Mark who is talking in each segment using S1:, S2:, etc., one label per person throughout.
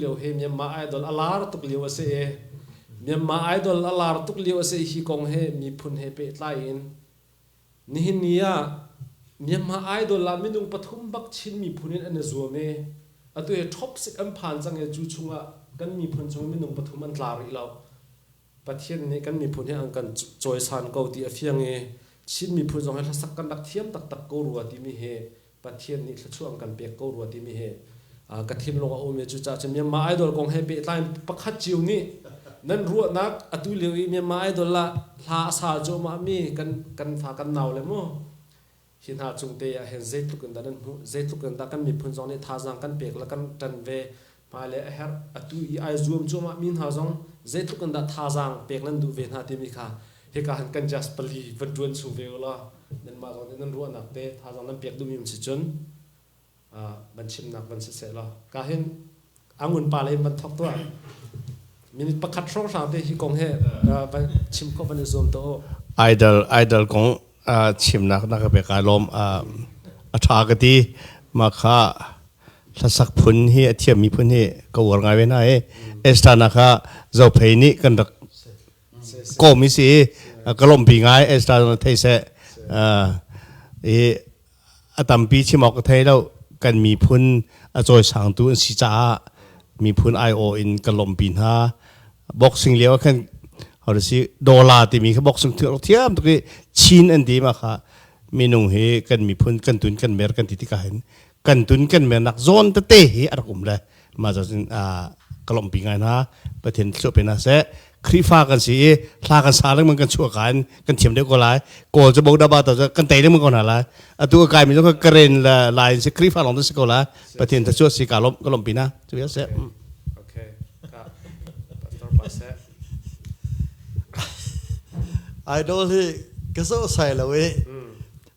S1: lio hi Myanmar Idol a lar tuk lio a si i Myanmar Idol a lar tuk lio a si hi kong he miphun he pehtlai in nihin ni ah Myanmar Idol ah minung pathum bak Chin miphun in an i zuam i atu hi top sik an phan cang i cu chungah kan miphun chung minung pathum an tla rih lo Pathian nih kan miphun hi an kan cawisan ko ti a fiang i Chin miphun zong hi hlasak kan rak thiam taktak ko rua timi hi Pathian nih thluachuah an kan pek ko rua timi hi ka thinlung a um i cucaah cun Myanmar Idol kong he pehtlai in pakhat cio nih nan ruahnak atu lio i Myanmar Idol ah hla a sa cuahmahmi kan fa kan nau le maw hi hna cung te ah hin zeitluk in dah nan hmuh zeitluk in dah kan miphun zong nih thazaang kan pek le kan ṭan ve Pa le a herh atu i ai zuam cuahmah mi hna zong zeitluk in dah thazaang pek nan duh ve hna timi kha hika han kan just pali van ṭuan chung ve ulaw nanmah zong nih nan ruahnak te thazaang nan pek duhmi um si cun van chimnak van si seh law ka hin angun pa lei van thok tuah minute pakhat hrawng hrang te hi kong he van chim khawh van i zuam to idol idol kong chimnak na ka pek ai lawm a ṭha ka ti mah kha Hlasak phun hi a thiam mi phun hi ka uar ngai ve hna i Estana kha Zophei nih kan rak kawm i si i ka lawmhpi ngai Estana thei seh i a tampi chim awk ka thei lo kan miphun a cawisangtu an si caah miphun aiawh in kan lawmhpi hna boxing lio ah khan how to say dola timi kha boxing thiam tuk i chin an ti ma kha minung hi kan miphun kan tun kan mer kan ti tikah hin kan tun kan mernak zawn tete hi a rak um le ma zocin kalompi ngai na pathin thluah pe na se khrifa kan si i hla kan sa leng man kan chuah kan kan thiam deuh ko lai kawl chu bogda ba to kan tei leng ko na lai atu ka kai mi ka karen la line se khrifa long se ko la pathin tha chuah si ka lom ka lom pi na tu ya se okay ka pastor pase idol hi ka so sai lo e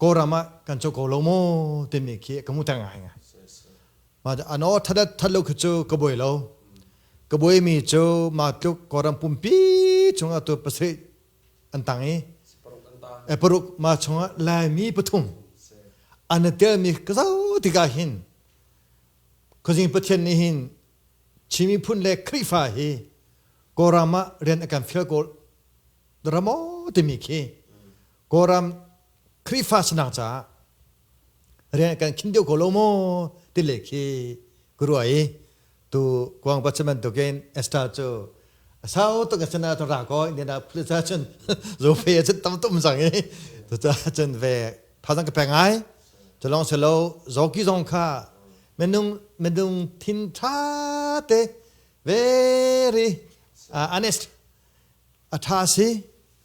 S1: Kawlram ah kan co ko lo maw timi khi ka hmuhter ngai ngai. Ano thatat that lo khi cu ka buai lo. Ka buai mi cu mah tluk Kawlram pumpi chungah tu pasarih an tang i paruk ma chungah Laimi pathum an i telmi ka zau tikah hin khuazing pathian nih hin Chin miphun le Khrihfa hi Kawlram ah rian a kan fial ko ramaw timi khi Kawlram Khrihfa sinang caah rian kan khin deuh ko lo maw ti le khi ka ruah i tu kuang patsi bantukin Esther cu sau tuk cun ah ra ko in na phul ca cun zo fe cun tam tum sang i tu ca cun ve phazang ka peng ai tu long se lo zoki zong kha menung menung thin tha te very uh, honest a tha si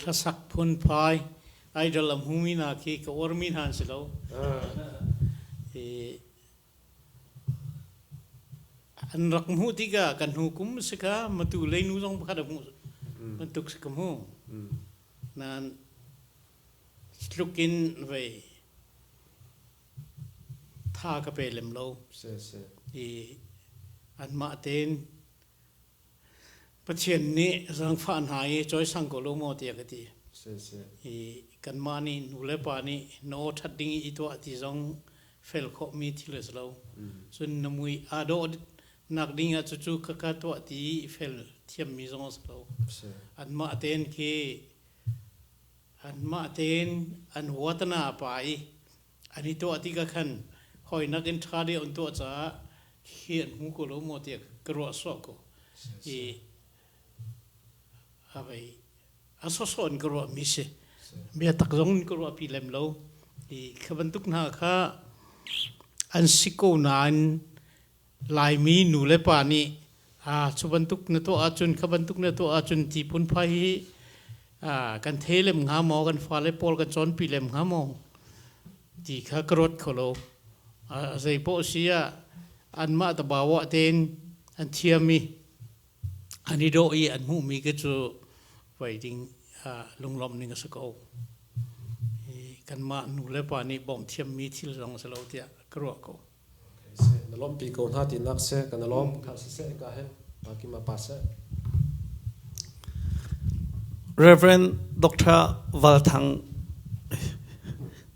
S1: Hlasak phunphai idol a hmumi hna khi ka uarmi hna an si lo. an rak hmuh tikah kan hnu kum si kha matu leinu zong pakhat a hmuh bantuk si ka hmu. Nain tlukin vei tha ka pe lem lo. Si, si. I anmah tein Pathian nih zangfah hna i cawisang ko law maw tiah ka ti. I kanmah nih nulepa nih na aw ṭhat ding i i tuah ti zong fel khawhmi thil a si lo. Cun na mui aa dawh nak ding ah cucu ka ka tuah ti i fel thiammi zong a si lo. Anmah tein khi anmah tein an huat na pa i An i tuah ti ka khan hawinak in ṭha deuh an tuah caah hi an hmu ko lo maw tiah ka ruah sawh ko. I a vei a sawsawh in ka ruahmi si. Bia tak zong in ka ruahpi lem lo. I kha bantuk hna kha an si ko nain Laimi nu le pa nih cu bantuk na tuah ahcun kha bantuk na tuah ahcun ti phunphai hi kan thei lem hnga maw kan fale pawl kan cawnpi lem hnga maw ti kha ka ruat kho lo. Zei poh si ah anmah tabauah tein an thiam i an i dawh i an hmuhmi khi cu vai ding lunglawmh ning a si ko. Kanmah nu le pa nih bawmh thiammi thil zong a si lo tiah ka ruah ko. seh na lawmpi ko hna ti nak seh kan lawm kha seh ka he baki ma pa seh Reverend Dr. Valthang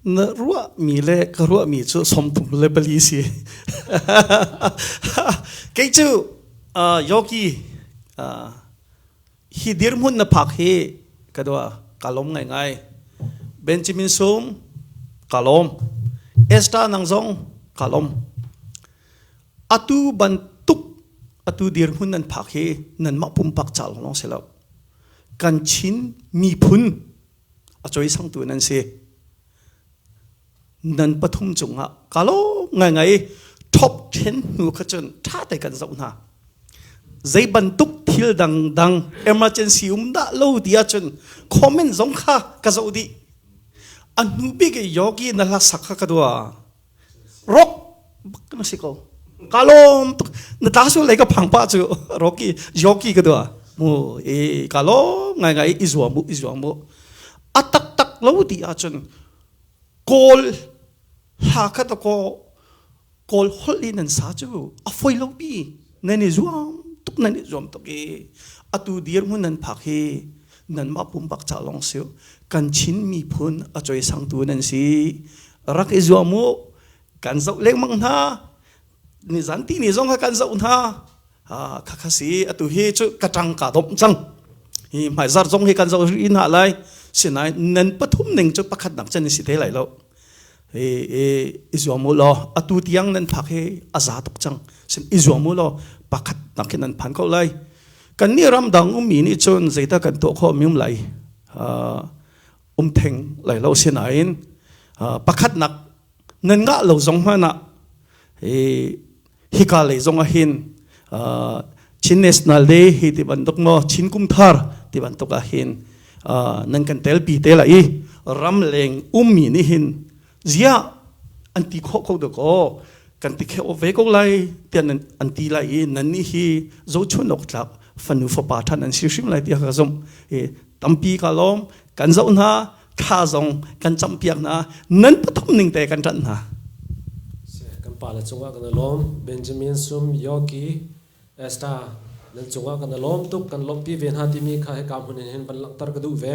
S1: na rua mi le ka rua mi cu somtum le bali si kei cu yogi hi dirhmun na phak hi ka doa ka lom ngai ngai benjamin sung ka lom esther nang zong ka lom atu bantuk atu dirhmun nan phak hi nan mah pumpak chal long se lo kan chin miphun a choi sang tu nan si nan pathum cungah ka lawm ngaingai top 10 hnu kha cun ṭha te kan zoh hna zei bantuk thil dangdang emergency um dah lo ti ahcun comment zong kha ka zoh dih a hnu bik i yogi na hlasak kha ka dua rock na si ko ka lawm tuk na ta sul lei ka phang pa cu rocky yogi ka dua mu e ka lawm ngai ngai i zuam mu i zuam mu a tak tak lo ti ahcun Kawl hla kha ta kaw Kawl holh i nan sa cu a foi lomi nan i zuam tuk nan i zuam tuk i atu dirhmun nan phak hi nanmah pumpak ca lawng si kan Chin miphun a cuai sangtu nan si rak i zuam u kan zoh lengmang hna nizan ti ni zong kha kan zoh hna khakha si atu hi cu kacang ka dom cang hi mai zar zong hi kan zo ri na lai sinain nen pathum ning cu pakhat nak chen si te lai lo e e izuam mu lo atu tiang nan phak hi aza tuk chang sim izuam mu lo pakhat nak hin nan phan ko lai kan ni ram dang um mi ni chun zeita kan to kho mium lai um theng lai lo sinain pakhat nak nan ngah lo zong hmanh ah hika lei zong ah hin Chin National Day hi ti bantuk maw Chin kumthar ti bantuk ah hin nan kan tel pi te la i ram leng ummi nih hin zia an ti khawh kho de ko kan ti kheo ve ko lai tian an ti lai i nan ni hi zo chun ok tlak fanu fapa than an si hrim lai ti ka zum tampi ka lom kan zo na tha zong kan campiak hna nan pathum ning te kan ṭanh hna kan pale cungah kan lawm Benjamin sum Yoki Esta nan cungah kan lawm tuk kan lawmhpi ve hna timi kha hika hmun hin van langhter ka duh ve